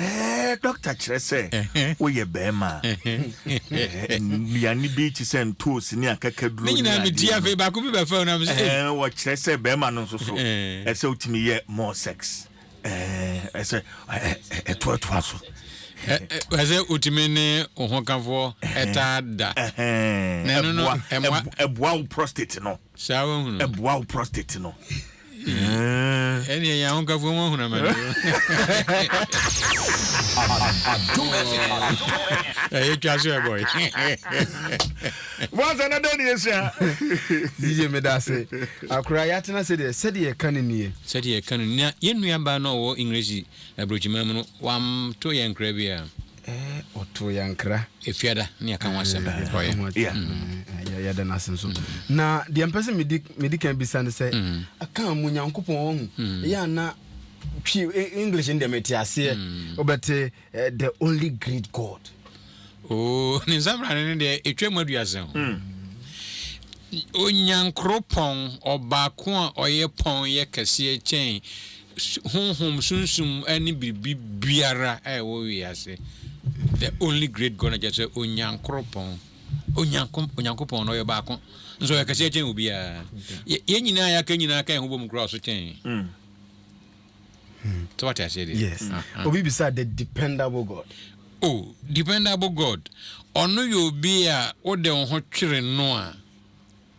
Ɛɛ, dɔkta kyerɛ sɛ woyɛ barima a, ɛɛ, nnuane bi te sɛ ntoosi ne akakaduro ne adeɛ medi afei baako bi bɛfɛw na mese ɛɛ. Wɔkyerɛ sɛ barima no nso so ɛsɛ wotumi yɛ more sex ɛɛ, ɛsɛ ɛtoatoa so. Ɛsɛ wotumi ne wo hokafoɔ taa da. Ɛhɛn, ɛboa ɛboa wo prostate no. Saa wahunu. Ɛboa wo prostate no. Ɛneɛ yɛn ahokafo mo ahunu amane o. Adom FM. Ɛyɛ twa so ɛbɔ yi. Mwansa na dɛn ne yɛsua. Yiye medase. Akora yɛatena sɛdeɛ sɛdeɛ yɛka no nie. Sɛdeɛ yɛka no nie. Na yɛn nuabaa no a ɔwɔ English aburokyiman mu no wamto yɛn nkra biara. Ɔtoo yɛn nkra. Efiada ne yɛka ho asɛm ɔyɛ. Ɛho ate. Yɛ- Yɛda no ase nso. Na deɛ mpɛ sɛ medi medi kan bisa no sɛ aka mu Nyankopɔn wahu ɛyɛ ana twi E- English no deɛ mete aseɛ wobɛte eh, the only great God. Oo, ne nsabrane no deɛ ɛtwa mu aduasa o. Onyankoropɔn, ɔbaako a ɔyɛ pɔn yɛ kɛseɛ kyɛn Honhom, sunsum ne biribi biara a ɛwɔ wiase, the only great God na kyerɛ sɛ Onyankoropɔn. Onyanko, Onyankopɔn no ɔyɛ baako. Nso ɔyɛ kɛseɛ kyɛn obiara. Yɛ- Yɛn nyinaa yɛaka nyinaa ka yɛn ho bom koraa ɔso kyɛn. Sɛ wate aseɛ deɛ. Yes. Aha. Obi bisa the dependable God. O dependable God, ɔno yɛ obi a wode wo ho twere no a,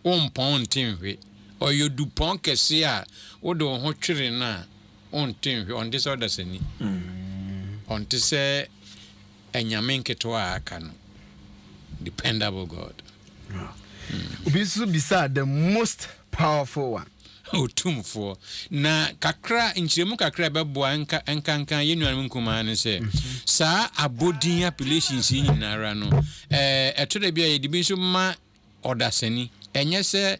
wommpɔn nte nhwe. Ɔyɛ odupɔn kɛse a wode wo ho twere no a, wonte nhwe. Ɔnte sɛ ɔdasani. Ɔnte sɛ anyame nketewa a aka no. Dependable God. Wow. Obi nso bisaa the most powerful one. Otumfoɔ. Na kakra, nkyerɛmu kakra a ɛbɛboa nka nkanka yɛn nuanom nkumaa ne sɛ, mhm. saa abɔdin appellations yi nyinara no, ɛɛ ɛtɔ da bi a yɛde bi nso ma ɔdasani. Ɛnyɛ sɛ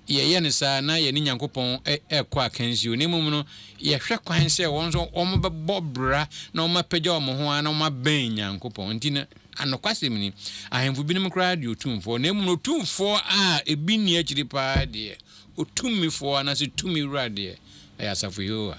yɛyɛ no saa na yɛne Nyankopɔn rekɔ akansi o, na mmom no, yɛhwɛ kwan sɛ wɔn nso wɔbɛbɔ bra na wɔapagya wɔn ho ara na wɔabɛn Nyankopɔn. Enti no, nokwasɛm ni, ahemfo binom koraa de otumfoɔ, na mmom no, otumfoɔ a ebi nni akyiri paa deɛ, otumfoɔ anaasɛ tumi wura deɛ, ɛyɛ asafo Yehowa.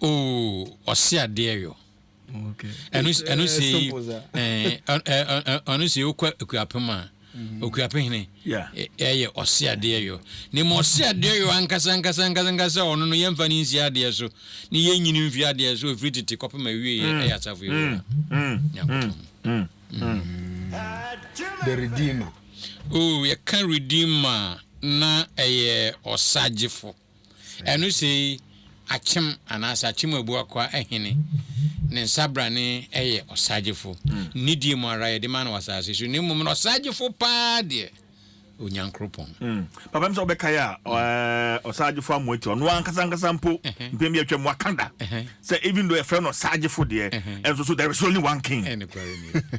oh ɔse adeɛ yo ɛno sei ɛno sei wokɔ akuapem a okuapem hene ɛyɛ ɔse adeɛ yo na ma ɔse adeɛ yo ankasa ankasa ankasa ankasa ɔno no yɛmfa ne nsi adeɛ so ne yɛnyini mfi adeɛ so ɛfiri tete kɔpem awie yɛ ɛyɛ asafo yɛ nyankopɔn the redeemer oh yɛka redeemer na ɛyɛ ɔsagyefo Ɛno sei, Akyem anaasɛ Akyem Abuakwa Ahene, ne nsabrane yɛ ɔsagyefo. Nidie mu ara yɛde ma no wɔ asase so, na mmom no ɔsagyefo pa ara deɛ, Onyankoropɔn. Papa, ɛm sɛ wobɛkae a, ɔsagyefo Amoati, ɔno ankasa ankasa mpo, mpɛn bi atwam, waka da sɛ even though yɛfrɛ no ɔsagyefo deɛ, ɛnso so there is only one king. Ɛnokware nie.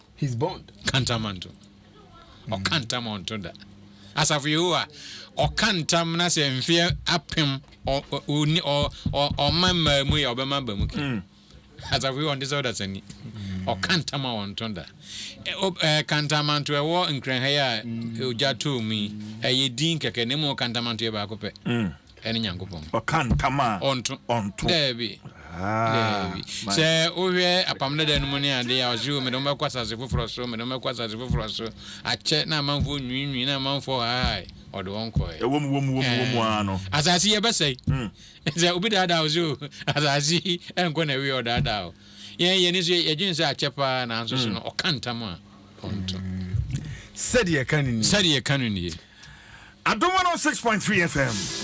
His bond. Ka ntam ma nto. Ɔka ntam a ɔnto da. Asafo Yehowa, ɔka ntam na sɛ mfeɛ apem ɔma mmaa mu yɛ ɔbɛma aba mu kɛ. Hmm. Asafo Yehowa ɔnte sɛ ɔdasani. Ɔka ntam a ɔnto da. Ka ntam anto ɛwɔ Nkranha yi a ogya too mu yi, ɛyɛ din kɛkɛ na mmom ka ntam anto yɛ baako pɛ. Hmm. ɛne nyankopɔn. Ɔka ntam a ɔnto. Ɔnto. Daabi. Haa. Daabi. Sɛ wohwɛ apam dada no mu ne ade a ɔse o mede wɔbɛkɔ asase foforɔ so mede wɔbɛkɔ asase foforɔ so akyɛ na amanfoɔ nwiinwii na amanfoɔ haae ɔde wɔn kɔɛ. Ɛwom wom wom wom eh, aa no. Asase yi ɛbɛsɛe. Hmm. Sɛ obi daadaa wo so asase yi ɛnkɔ na ɛwie ɔdaadaa wo. Yɛn yɛn nso yɛdwen sɛ akyɛ paa nanso so hmm. no ɔka ntam a ɔnto. Hmm. Sɛdeɛ ɛka no nie. Sɛdeɛ ɛka no nie. Adom 106.3 FM.